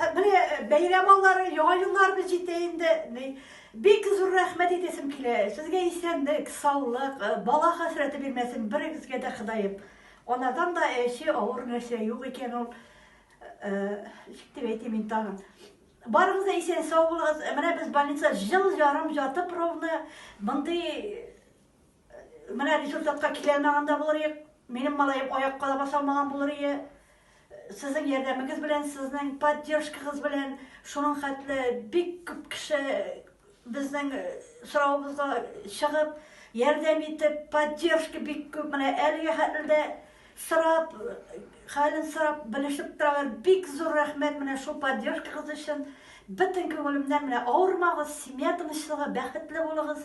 Э, менә э, бәйрәм аллары, яңа елларыбыз җитә инде. Бик зур рәхмәт әйтәсем килә. Сезгә исәнлек, саулык, э, бала хәсрәте бирмәсен берегезгә дә Ходаем. Анадан да әче авыр нәрсә юк икән ул. Ничек дип әйтим мин тагын. Барыгыз да исән сау булыгыз. Менә без больница жыл ярым ятып ровно мондый Менә результатка килә алмаган да булыр идек. Минем малаем аякка да баса алмаган булыр иде. Сезнең ярдәмегез белән, сезнең поддержкагыз белән, шуның хәтле бик күп кеше безнең э, соравыбызга чыгып, ярдәм итеп, поддержка бик күп. Менә әлеге хәтле сорап, хәлен сорап, белешеп торалар. Бик зур рәхмәт менә шул поддержкагыз өчен. Бөтен күңелемнән менә авырмагыз, семья тынычлыгы, бәхетле булыгыз.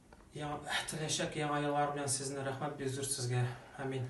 Яңа теләчәк яңа еллар белән сезне, рәхмәт бик зур сезгә. Амин.